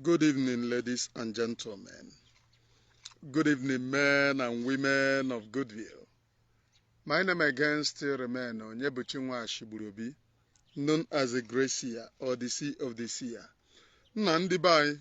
Good evening, ladies and gentlemen. Good evening, men and women of Goodwill. My name again still remain Onyebuchi Nwashigburubi, known as the Gracia or the Sea of the Sea. Nna ndị be anyị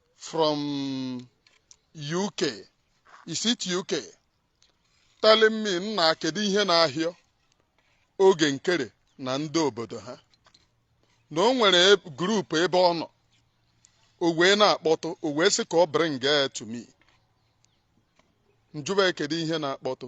from UK is it UK telling me nna kedu ihe na-ahịọ oge nkere na ndị obodo ha na o nwere e- group ebe ọ nọ o wee na-akpọtụ o wee sị ka ọ bring it to me m jụba ya kedu ihe na-akpọtụ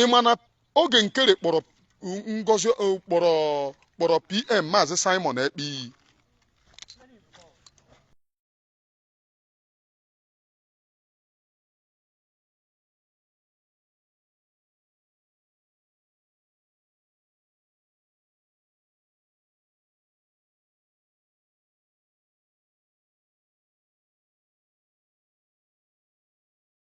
ị ma na oge nkere kpọrọ ngozi kpọrọ pm maazị simon ekpa iyi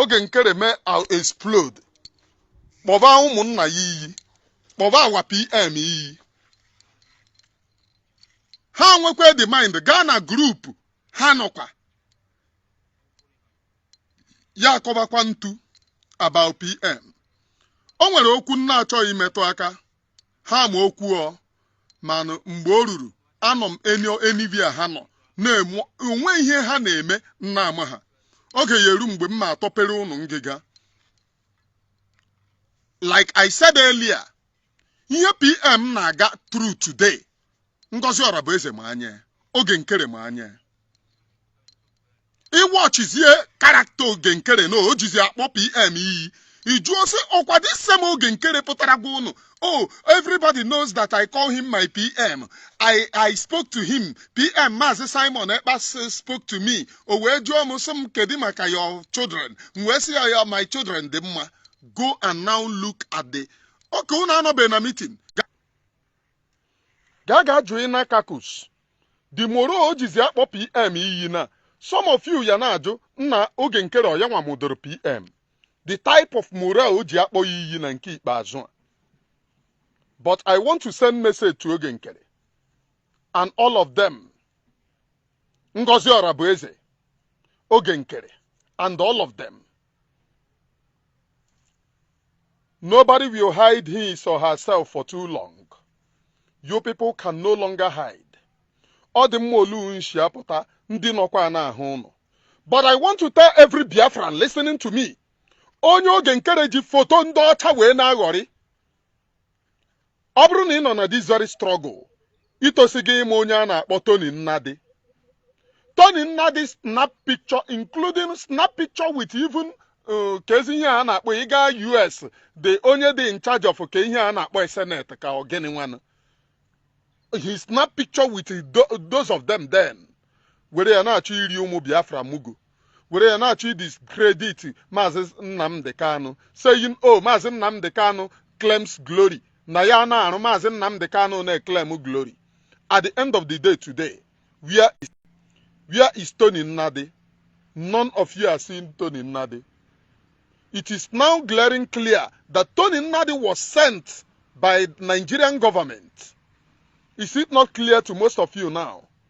oge nkere mee a- explode kpọba ụmụnna ya iyi kpọba our pm iyi ha nwekwa the mind gaa na group ha nọkwa ya akọbakwa ntu about pm o nwere okwu m na-achọghị imetụ aka ha ma okwu ọ mana mgbe o ruru anọ m anywhere ha nọ na-eme o nwe ihe ha na-eme m na-amaha oge ya eru mgbe m ma atọpere ụnụ ngịga like I said earlier ihe pm na-aga through today Ngozi Orabueze ma anya oge nkere ma anya ị watchizie character oge nkere na o jizi akpọ pm iyi ị jụọ sị ọ kwa this same oge nkere pụtara gwa ụnụ oh everybody knows that i call him my pm i i spoke to him pm maazị simon ekpa s- spoke to me o wee jụọ m sị m kedu maka your children m wee sị ya ya my children dị mma go and now look at the okay unu anọbe na meeting gaa ga jụọ na caucus the morale o jizi akpọ pm iyi na some of you ya na-ajụ nna oge nkere ọ ya nwa mụdoro pm the type of morale o ji akpọ ya iyi na nke ikpeazụ a but i want to send message to oge nkere and all of them ngozi orabueze oge nkere and all of them Nobody will hide his or herself for too long. You people can no longer hide. Ọ dị mma olu nshi apụta ndị nọkwa na-ahụ ụnụ. But I want to tell every Biafran listening to me. Onye oge nkere ji foto ndị ọcha wee na-aghọrị. Ọ bụrụ na ị nọ na this very struggle itosi gị ịma onye a na-akpọ Tony Nnadi Tony Nnadi snap picture including snap picture with even uh, kezi ihe a na-akpọ ịga US the onye dị in charge of ke ihe a na-akpọ Senate ka ọ gịnị nwanụ he snap picture with those of them then were ya na-achọ iri ụmụ Biafra mugu were ya na-achọ ịdiscredit maazị Nnamdi Kanu saying o oh, maazị Nnamdi Kanu claims glory na ya na-arụ maazị Nnamdi Kanu na-eclaim glory at the end of the day today where is, where is Tony Nnadi none of you are seeing Tony Nnadi it is now glaring clear that Tony Nnadi was sent by Nigerian government is it not clear to most of you now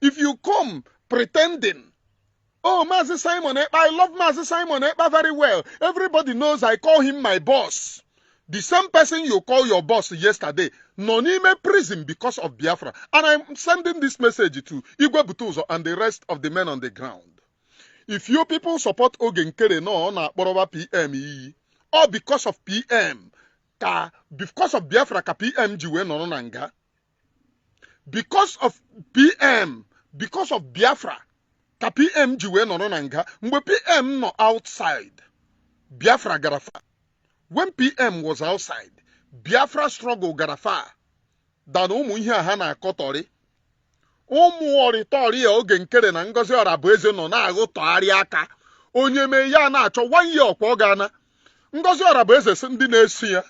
if you come pretending oh maazị simon ekpa i love maazị simon ekpa very well everybody knows i call him my boss the same person you call your boss yesterday nọ n'ime prison because of biafra and i'm sending this message to igwe butuzo and the rest of the men on the ground if you people support oge nkere na ọ na-akpọrọba pm iyi all because of pm ka because of biafra ka pm ji wee nọrọ na nga because of pm because of biafra ka pm ji wee nọrọ na nga mgbe pm nọ outside biafra gara far when pm was outside biafra struggle gara far than ụmụ ihe a ha na-akọtọrị ụmụ ọrịtọrị a Oge Nkere na Ngozi Orabueze nọ na-aghụtọgharị aka onye mee ya na-achọ one year ọkwa ọ ga-ana Ngozi Orabueze sị ndị na-eso ya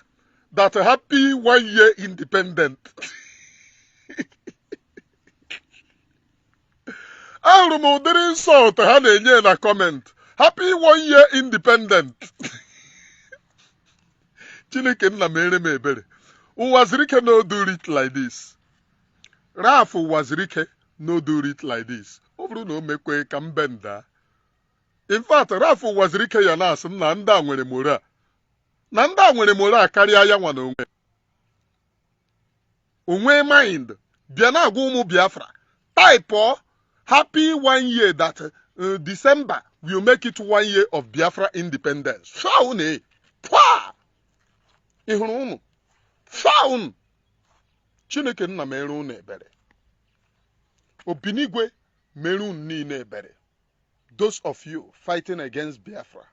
that happy one year independent ahụrụ m ụdịrị insult ha na-enye na comment happy one year independent chineke nna meere m ebere Uwazuruike no do it like this Ralph Uwazuruike no do it like this ọ bụrụ na o mekwe ka m benda in fact Ralph Uwazuruike ya na-asị na ndị a nwere moral na ndị a nwere moral karịa ya nwa na onwe o nwee mind bịa na-agwa ụmụ Biafra type happy one year that uh, December will make it one year of Biafra independence shaw na pwa ị hụrụ ụnụ shaw ụnụ Chineke nna meere ụnụ ebere Obinigwe meere ụnụ niile ebere those of you fighting against Biafra,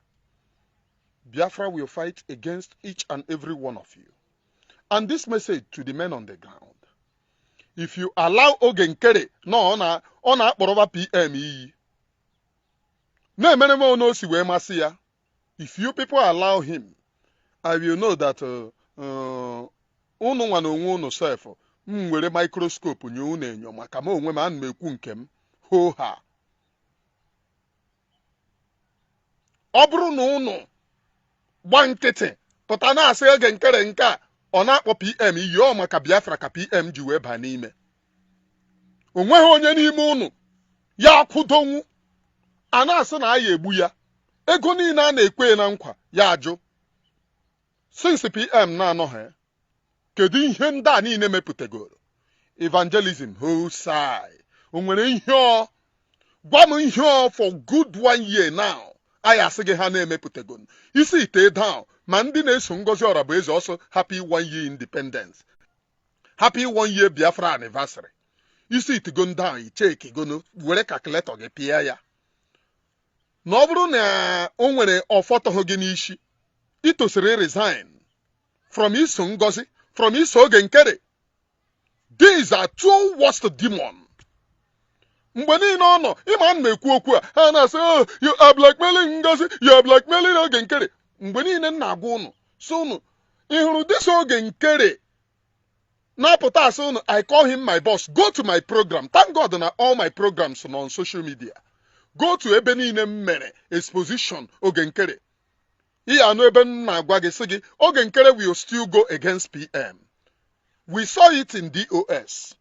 Biafra will fight against each and every one of you. And this message to the men on the ground. If you allow Oge Nkere na ọ na- ọ na-akpọrọba PM iyi na-emere m onu o si wee masị ya if you people allow him i will know that uh, uh, unu nwa na onwe unu sef m were microscope nyo unu enyo maka m onwe m ana m ekwu nke m hoo ha ọ bụrụ na unu gba nkịtị pụta na-asị Oge Nkere nke a ọ na-akpọ pm iyi ọ maka biafra ka pm ji wee baa n'ime o nweghị onye n'ime ụnụ ya akwụdonwu a na-asị na a ya-egbu ya ego niile a na-ekwe na nkwa ya ajụ since pm na-anọghị kedu ihe ndị a niile mepụtagoro evangelism hosai o nwere ihe ọ gwa m ihe ọ for good one year now a ya-asị gị ha na-emepụtagoro ị sitie down ma ndị na-eso ngozi ọrabụeze ọsọ happy one year independence happy one year biafra anniversary ị sitigo down ị chekigonu were calculator gị pịa ya na ọ bụrụ na o nwere ọfọtọghị gị n'isi i tosiri resign from iso ngozi from iso oge nkere these are two worst demon mgbe niile ọ nọ ịma m na-ekwu okwu a ha na-asị oh, you are blackmailing ngozi you are blackmailing oge nkere mgbe niile m na-agwa ụnụ sị ụnụ ị hụrụ this oge nkere na-apụta asị ụnụ I call him my boss go to my program thank God na all my programs nọ on social media go to ebe niile m mere exposition oge nkere ị ya-anụ ebe m na-agwa gị sị gị oge nkere will still go against PM we saw it in DOS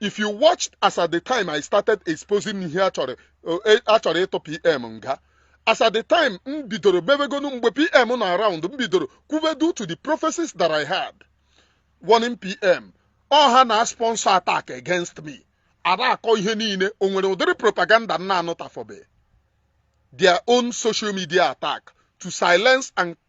if you watched as at the time I started exposing ihe a chọrọ eh, ịtụ PM nga as at the time m bidoro mebegonu mgbe PM nọ around m bidoro kwube due to the prophecies that I had warning PM ọ ha na-asponsor attack against me ada akọ ihe niile o nwere ụdịrị propaganda m na-anụtafobe their own social media attack to silence and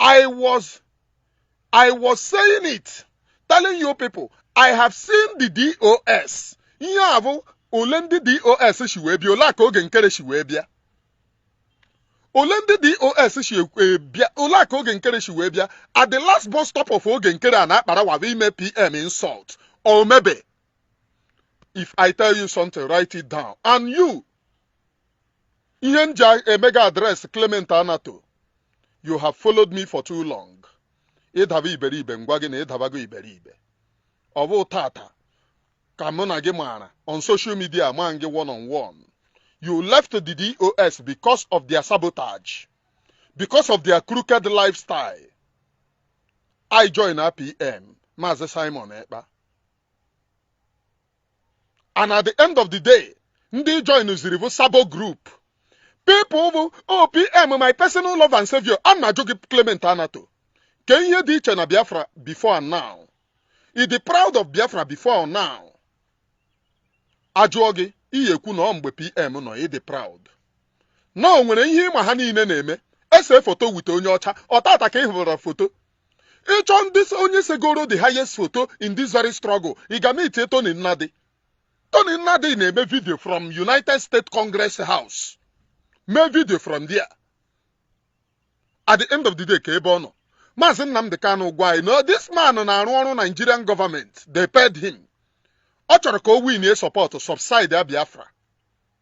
I was I was saying it telling you people I have seen the DOS ihe a bụ ole ndị DOS si wee bịa ole a ka oge nkere si wee bịa ole ndị DOS si wee bịa ole a ka oge nkere si wee bịa at the last bus stop of oge nkere and Akparawa bụ ime PM insult o mebe if I tell you something write it down and you ihe m ji eme gị address Clement Anato you have followed me for too long ị daba iberibe m gwa gị na ị dabago iberibe ọ bụ tata ka mụ na gị maara on social media ma gị one on one you left the DOS because of their sabotage because of their crooked lifestyle ị joina PM Maazị Simon Ekpa and at the end of the day ndị ị joinziri bụ sabo group people bụ oh PM oh, my personal love and savior a m na-ajụ gị Clement Anato ke ihe dị iche na Biafra before and now ị dị proud of Biafra before and now ajụọ gị ị ya-ekwu na ọ mgbe PM nọ ị dị proud na o nwere ihe ị ma ha niile na-eme e see foto with onye ọcha ọ tata ka ị hụrụ foto ị chọọ ndị onye segoro the highest photo in this very struggle ị ga meet Tony Nnadi Tony Nnadi na-eme vidio from United States Congress House mee vidio from there at the end of the day kee ebe ọ nọ maazị Nnamdi Kanu gwa anyị na this man na-arụ ọrụ Nigerian government they paid him ọ chọrọ ka o winie support to subside Biafra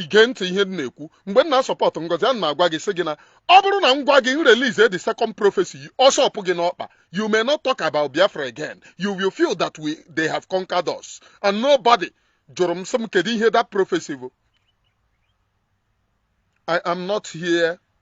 ị gee ntị ihe m na-ekwu mgbe m na-asupport Ngozi ana m agwa gị sị gị na ọ bụrụ na m gwa gị m release the second prophecy ọsọ pụ gị n'ọkpa you may not talk about Biafra again you will feel that we they have conquered us and nobody jụrụ m sị m kedu ihe that prophecy bụ I am not here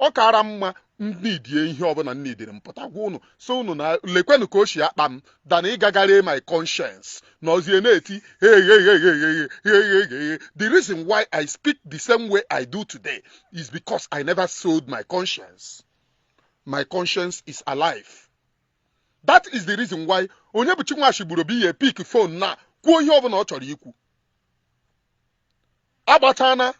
ọ kaara mma m needie ihe ọbụna m needịrị m pụta gwa ụnụ sị ụnụ na lekwenụ ka o si akpa m than ịga gaa ree my conscience nọzie na-eti the reason why I speak the same way I do today is because I never sold my conscience my conscience is alive that is the reason why Onyebuchi nwa shi gburu bụ ihe pick phone na kwuo ihe ọbụna ọ chọrọ ikwu agbatana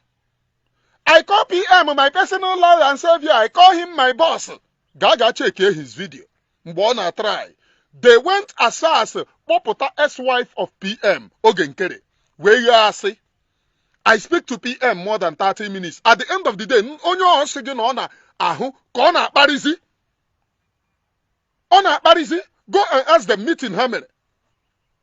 I call PM my personal lord and savior I call him my boss gaa gaa checkie his video mgbe ọ na-atry they went as far as kpọpụta ex-wife of PM Oge Nkere wee ghaa asị I speak to PM more than 30 minutes at the end of the day onye ọ sị gị na ọ na-ahụ ka ọ na-akparịzi ọ na-akparịzi go and ask them meeting ha mere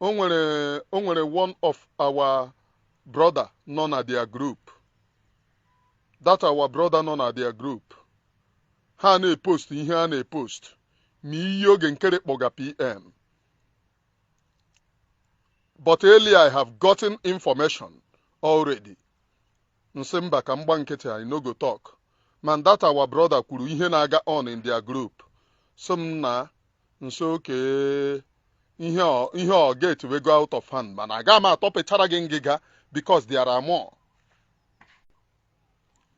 o nwere o nwere one of our brother nọ na their group that our brother nọ na their group ha na-epost ihe ha na-epost ma ihe Oge Nkere kpọga pm but earlier i have gotten information already m sị mba ka m gbaa nkịtị I no go talk mana that our brother kwuru ihe na-aga on in their group sị m na m sị okay ihe ọ- ihe ọ get we go out of hand mana aga m atọpechara gị ngịga because there are more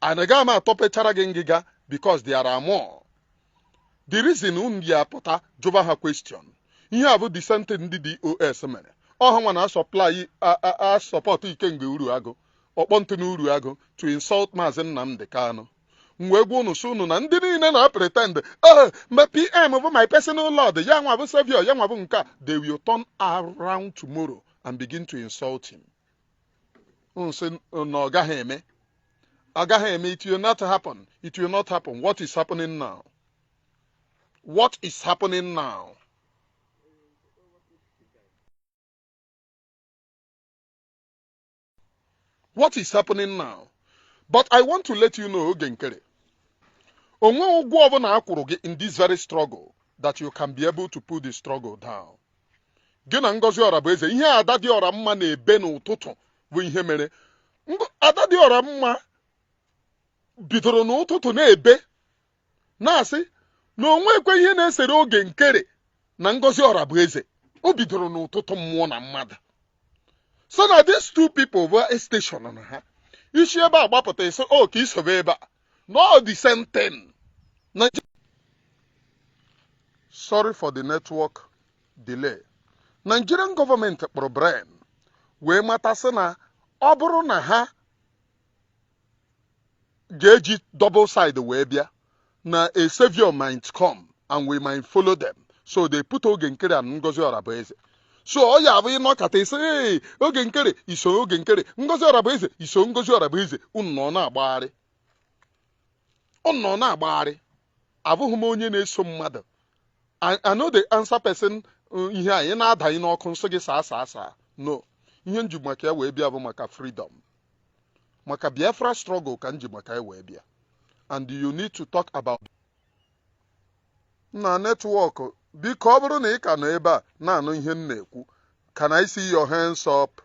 and aga m atọpechara gị ngịga because there are more the reason unu ya pụta jụba ha question ihe a bụ the same thing ndị DOS mere ọ ha nwa na-asupply a- a- asupport Ikenga Uruagu Ọkpọntụ na Uruagu to insult maazị Nnamdi Kanu m wee gwa unu sị unu na ndị niile na-apretend oh my pm bụ my personal lord ya nwa bụ savior ya nwa bụ nke a they will turn around tomorrow and begin to insult him unu sị na ọ gaghị eme ọ gaghị eme it will not happen it will not happen what is happening now what is happening now what is happening now but i want to let you know Oge Nkere o nwe ụgwọ ọbụla a kwụrụ gị in this very struggle that you can be able to put the struggle down gị na Ngozi Ọrabụeze ihe ada dị ọra mma na-ebe n'ụtụtụ bụ ihe mere ada dị ọra mma bidoro n'ụtụtụ na-ebe na-asị na o nwekwe ihe na-esere Oge Nkere na Ngozi Ọrabụeze o bidoro n'ụtụtụ mmụọ na mmadụ so na these two people bụ station na ha i si ebe a gbapụta ị sị okay i sobe ebe a na ọ the same thing sorry for the network delay Nigerian government kpọrọ brain wee mata sị na ọ bụrụ na ha ga-eji double side wee bịa na a savior might come and we might follow them so they put Oge Nkere and Ngozi Ọrabụeze so ọ ya-abụ ị nọkata ị sị ee Oge Nkere i so Oge Nkere Ngozi Ọrabụeze i so Ngozi Ọrabụeze unu nọ na-agbagharị unu nọ na-agbagharị abụghị m onye na-eso mmadụ I, I no dey answer person uh, ihe anyị na-adanye n'ọkụ m sị gị saa saa saa no ihe m ji maka ya wee bịa bụ maka freedom maka Biafra struggle ka m ji maka ya wee bịa and you need to talk about na network biko ọ bụrụ na ị ka nọ ebe a na-anụ ihe m na-ekwu can i see your hands up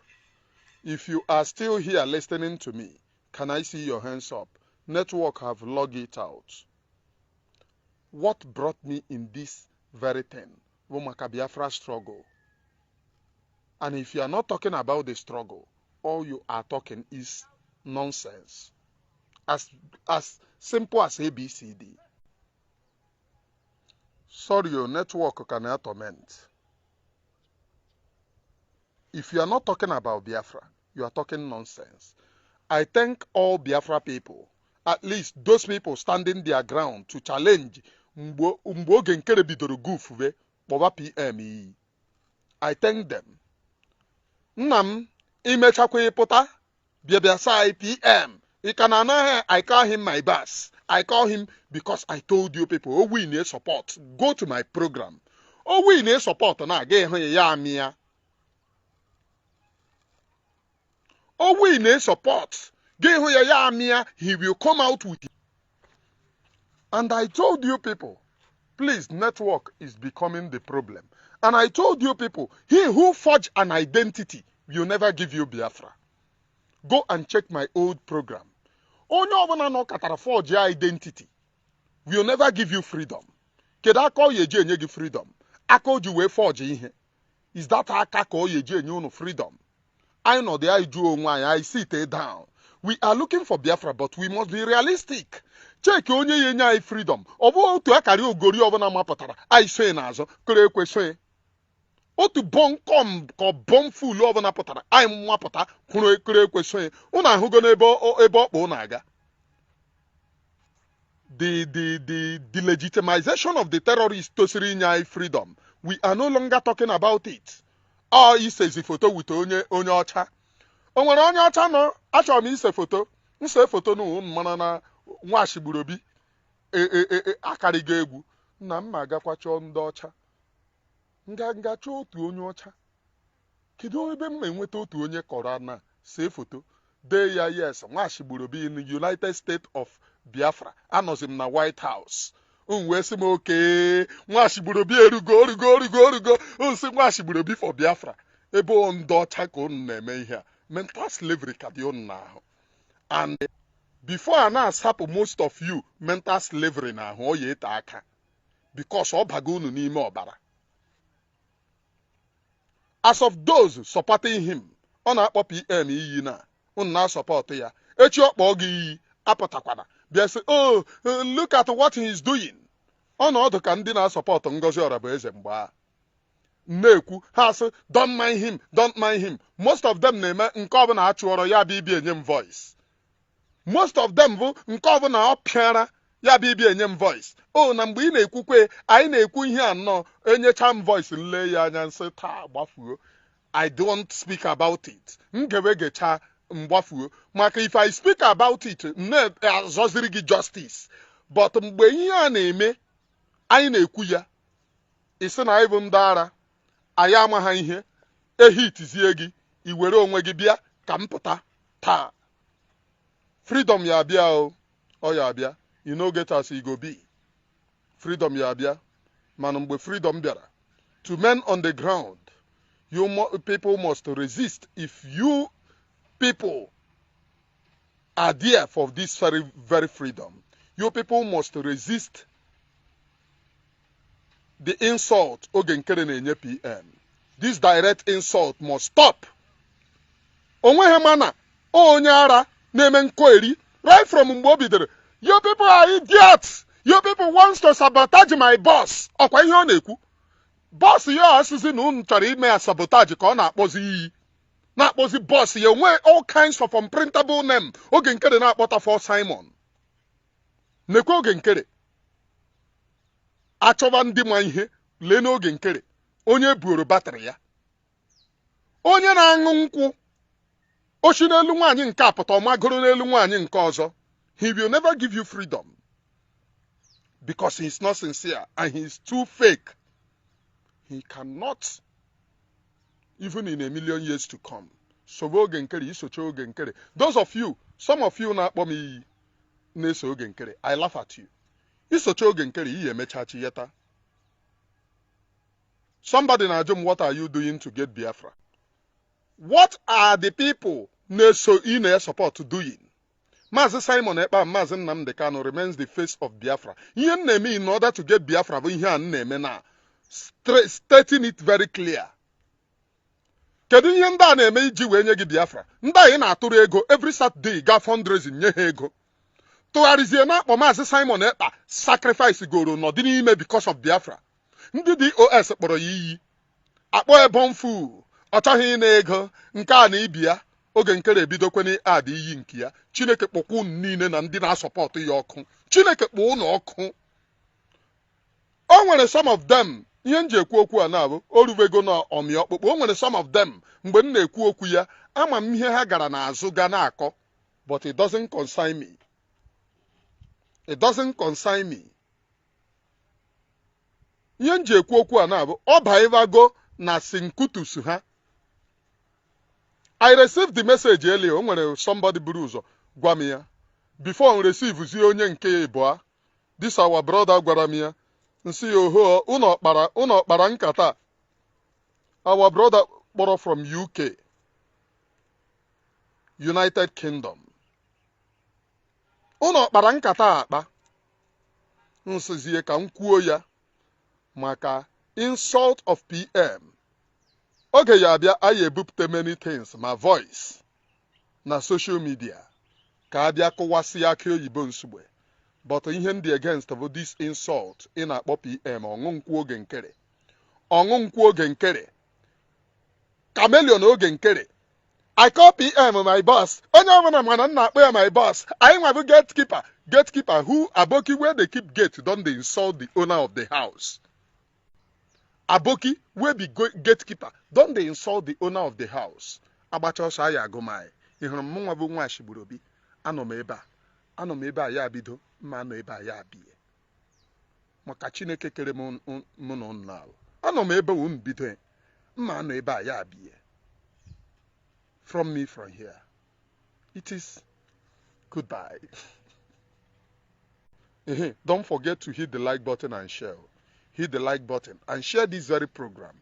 if you are still here listening to me can i see your hands up network have log it out what brought me in this very thing bụ maka Biafra struggle and if you are not talking about the struggle all you are talking is nonsense as as simple as abcd sorry your network can na torment if you are not talking about biafra you are talking nonsense i thank all biafra people at least those people standing their ground to challenge mgbe oge nkere bidoro gufube kpọba pm iyi I thank them nna m i mechakwa ị pụta bịa bịa saa PM ị ka na anaghị I call him my boss I call him because I told you people ọ wụ ị na-esupport go to my program ọ wụ ị na-esupport na-aga ịhụ ya ya amị ya ọ wụ ị na-esupport gị hụ ya ya amịa he will come out with you. and I told you people please network is becoming the problem and I told you people he who forge an identity will never give you Biafra go and check my old program onye ọbụla nọkatara forge identity will never give you freedom kedu aka ọ ya-eji enye gị freedom aka o ji wee forge ihe is that aka ka ọ ya-eji enye unu freedom anyị nọdụ anyị jụọ onwe anyị anyị sit down we are looking for Biafra but we must be realistic cheki onye ya-enye anyị freedom ọ bụ otu akarịogori ọbụla mapụtara anyị soe n'azụ kere ekwe soe otu bunkum compound fool ọbụla pụtara anyị amapụta kwụrụ ekere ekwe soe ụnụ ahụgo n'ebe ọ- ebe ọ kpa ụnụ aga the the the delegitimization of the terrorists tosiri inye anyị freedom we are no longer talking about it ọ isezi foto with onye ọcha o nwere onye ọcha nọ achọrọ m ise foto nse foto n'ụwa m mara na nwashi gburu obi e- e- e- e- akarịgo egwu na m ma agakwa chọọ ndị ọcha nga nga chọọ otu onye ọcha Kedu ebe m ma enweta otu onye kọrọ na see foto dee ya yes nwashi gburu obi in United States of Biafra anọzi m na White House m wee sị m okay nwashi gburu obi erugo nsị nwashi gburu obi for Biafra ebe ọ ndị ọcha ka unu na-eme ihe a mental slavery ka dị unu n'ahụ and before a na-asapụ most of you mental slavery n'ahụ ọ ya ete aka because ọ bago unu n'ime ọbara as of those supporting him ọ na-akpọ pm iyi na unu na-asupport ya echi ọ kpọọ gị iyi apụtakwana bịa sị oh look at what he is doing ọ na ọ dụ ka ndị na-asupport Ngozi Orabueze mgbe a na-ekwu ha asị don't mind him don't mind him most of them na-eme nke ọbụna a chụọrọ ya bịa ibi enye m voice most of them bụ nke ọbụna ọ pịara ya bụ ibi enye m voice o na mgbe ị na-ekwukwe anyị na-ekwu ihe a unu enyecha m voice nlee ya anya nsị taa gbafuo I don't speak about it m gewe gecha mgbafuo maka if I speak about it m na-azọziri gị justice but mgbe ihe a na-eme anyị na-ekwu ya ị sị na anyị bụ ndị ara anyị amaha ihe e hitzie gị i were onwe gị bịa ka m pụta taa freedom ya abịa o ọ ya abịa e no get as e go be freedom ya abịa mana mgbe freedom bịara to men on the ground you mu people must resist if you people are there for this very freedom you people must resist the insult oge nkere na-enye pm this direct insult must stop onweghị mana onye ara na-eme nkọeri right from mgbe o bidoro you people are idiots you people wants to sabotage my boss ọkwa ihe ọ na-ekwu boss ya asịzi na unu chọrọ ime ya sabotage ka ọ na-akpọzi iyi na-akpọzi boss ya onwe all kinds of unprintable name oge nkere na-akpọta for Simon Ekpa oge nkere a chọba ndị ma ihe lee n'oge nkere onye buoro battery ya onye na-aṅụ nkwụ o shi n'elu nwaanyị nke a pụta ọ magoro n'elu nwaanyị nke ọzọ he will never give you freedom because he is not sincere and he is too fake he cannot even in a million years to come sobe oge nkere i socha oge nkere those of you some of you na-akpọ m iyi na-eso oge nkere i laugh at you i socha oge nkere i ya-emecha chi yeta somebody na-ajụ m what are you doing to get biafra what are the people na-eso ị na-asupport doing Maazị Simon Ekpa Maazị Nnamdi Kanu remains the face of Biafra. Ihe m na-eme in order to get Biafra bụ ihe a m na-eme na stating it very clear. kedu ihe ndị a na-eme iji wee nye gị biafra ndị anyị na-atụrụ ego every Saturday ga fundraising nye ha ego tụgharịzie na-akpọ maazị Simon Ekpa sacrifice goro nọdị n'ime because of biafra ndị DOS kpọrọ ya iyi akpọ a born fool ọ chọghị ịna ego nke a na ibi ya oge nkere ebidokwa na-add iyi nke ya chineke kpọkwa unu niile na ndị na-asupport ya ọkụ chineke kpọọ unu ọkụ o nwere some of them ihe m ji ekwu okwu a na-abụ o rubego na ọmị ọkpụkpụ o nwere some of them mgbe m na-ekwu okwu ya ama m ihe ha gara n'azụ ga na-akọ but it doesn't concern me it doesn't concern me ihe m ji ekwu okwu a na-abụ ọ baivago na sinkutus ha i received the message earlier o nwere somebody buru ụzọ gwa m ya before m receive zie onye nke ịbụa this our brother gwara m ya m sị ya oho unu kpara nkata our brother kpọrọ from UK United Kingdom unu kpara nkata akpa m sịzie ka m kwuo ya maka insult of PM oge ya-abịa a ya-ebupụta many things ma voice na social media ka a bịa kụwasịa akị oyibo nsugbe but ihe m dị against bụ this insult ị na-akpọ pm ọṅụ nkwụ oge nkere ọṅụ nkwụ oge nkere chameleon oge nkere I call PM my boss. Onye ọbụla ma na m na-akpọ ya my boss. Anyị nwa bụ gatekeeper. Gatekeeper who Aboki wey dey keep gate don dey insult the owner of the house. aboki wey be gatekeeper don dey insult the owner of the house agbacha ọsọ a ya-agụ mile ị hụrụ m mụ nwa bụ nwa ashigburu obi anọ m ebe a anọ m ebe a ya bido mma anọ ebe a ya bie maka chineke kere m mụ na unu n'ala anọ m ebe unu bido mma anọ ebe a ya bie from me from here it is goodbye don't forget to hit the like button and share hit the like button and share this very program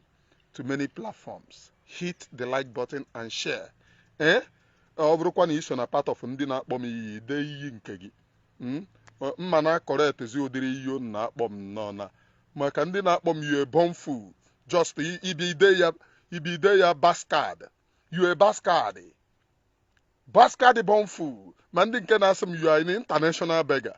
to many platforms hit the like button and share ee eh? ọ bụrụkwa na i so na part of ndị na-akpọ m iyi dee iyi nke gị hmm? mma na akọrọetezi ụdịrị iyi a na-akpọ m nọ na maka ndị na-akpọ m you a born fool just ibi ide ya ibi ide ya bastard you a bastard bastard born fool ma ndị nke na-asị m you are an international beggar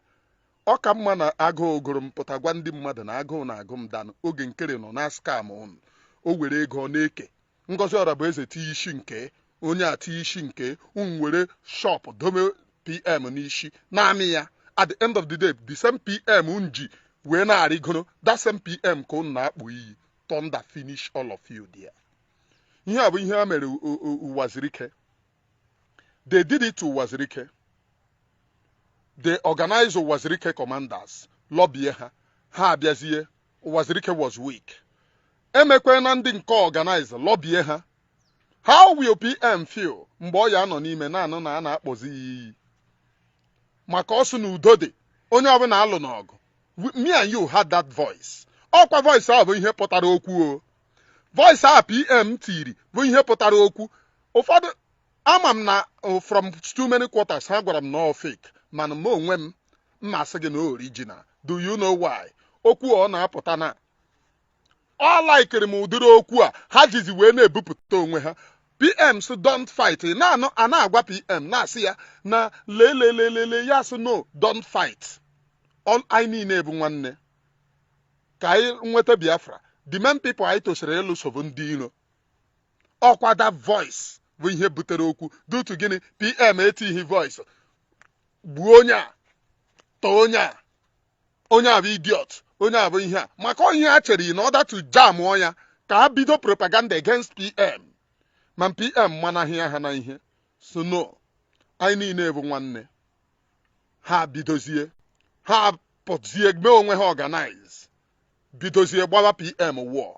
ọ ka mma na agụụ gụrụ m pụta gwa ndị mmadụ na agụụ na-agụ m than Oge Nkere nọ na-scam ụnụ o were ego na-eke Ngozi Ọrabueze tinye isi nke onye a tinye isi nke unu were shop dome pm n'isi naanị ya at the end of the day the same pm unu ji wee na-arịgoro that same pm ka unu na-akpọ iyi thunder finish all of you there ihe a bụ ihe ha mere u- u- u- Uwazirike they did it to Uwazirike they organize Uwazirike commanders lọbie ha ha abịazie Uwazirike was weak e mekwa na ndị nke organize lọbie ha how will pm feel mgbe ọ ya-anọ n'ime na-anụ na a na-akpọzi ya iyi maka ọ sị na udo dị onye ọbụla alụna ọgụ We- me and you heard that voice ọkwa voice ahụ bụ ihe pụtara okwu o voice a pm tiri bụ ihe pụtara okwu ụfọdụ ama m na uh, from too many quarters ha gwara m na ọ fake mana m onwe m m ma-asị gị na original do you know why okwu ọ na-apụta na ọ laikiri m ụdịrị okwu a ha jizi wee na-ebupụta onwe ha pm sị don't fight na a na-agwa pm na-asị ya na lelelelele ya sị no don't fight anyị niile bụ nwanne ka anyị nweta biafra the main people anyị tosiri ịlụso bụ ndị iro ọkwa that voice bụ ihe butere okwu due to gịnị pm etighi voice gbuo onye a tọọ onye a onye a bụ idiot onye a bụ ihe a maka ihe ha chere in order to jam ya ka a bido propaganda against pm ma pm manahịa ha na ihe sị no anyị niile bụ nwanne ha bidozie ha pụzie mee onwe ha organize bidozie gbawa pm war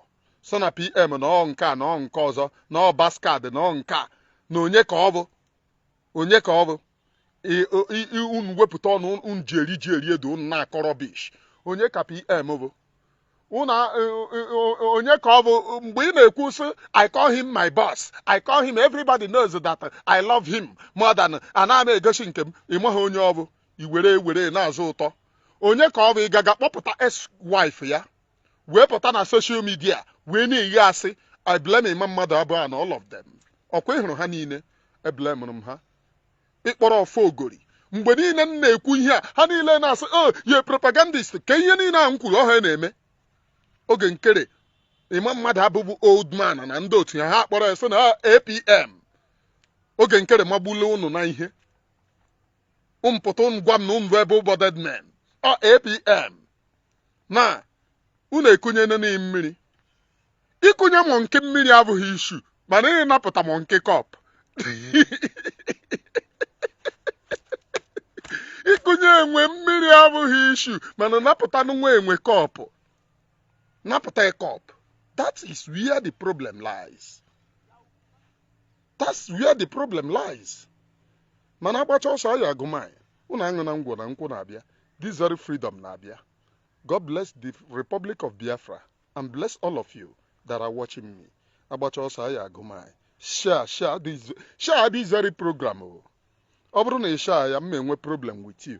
sị na pm na ọ nke a na ọ nke ọzọ na ọ bastard na ọ nke a na onye ka ọ bụ onye ka ọ bụ unu wepụta ọnụ unu ji eri ji eri ede unu na-akọ rubbish onye ka pm bụ Unu a- o- o- o- onye ka ọ bụ mgbe ị na-ekwu sị I call him my boss I call him everybody knows that I love him more than ana m egosi nke m ị maghị onye ọ bụ i were were na-azụ ụtọ onye ka ọ bụ ị gaga kpọpụta ex wife ya wee pụta na social media wee na-agha asị I blame Emma Maduabu na all of them ọkwa ị hụrụ ha niile eblemụrụ m ha ị kpọrọ ọfọ ogori mgbe niile m na-ekwu ihe a ha niile na-asị o oh, ye propagandist ka ihe niile a m kwuru ọ ha na-eme Oge Nkere Emma Maduabu bụ old man na ndị otu ya ha kpọrọ ya sị na ah, APM Oge Nkere magbule ụnụ na ihe mpụta gwa m na ụnụ able-bodied men ọ APM na unu ekunyene enwe mmiri ikunye monkey mmiri abụghị issue mana ịnapụta monkey cup ikunye enwe mmiri abụghị issue mana ịnapụta nwa enwe kọpụ napụta kọpụ that is where the problem lies that's where the problem lies mana agbacha ọsọ a ya-agụ maịl unu aṅụna ngwọ na nkwụ na-abịa this very freedom na-abịa God bless the Republic of Biafra and bless all of you that are watching me. Agbacha ọsọ a ya-agụ maịl. Share, share this, share this very program. o. Ọ bụrụ na ị share ya, m ma enwe problem with you.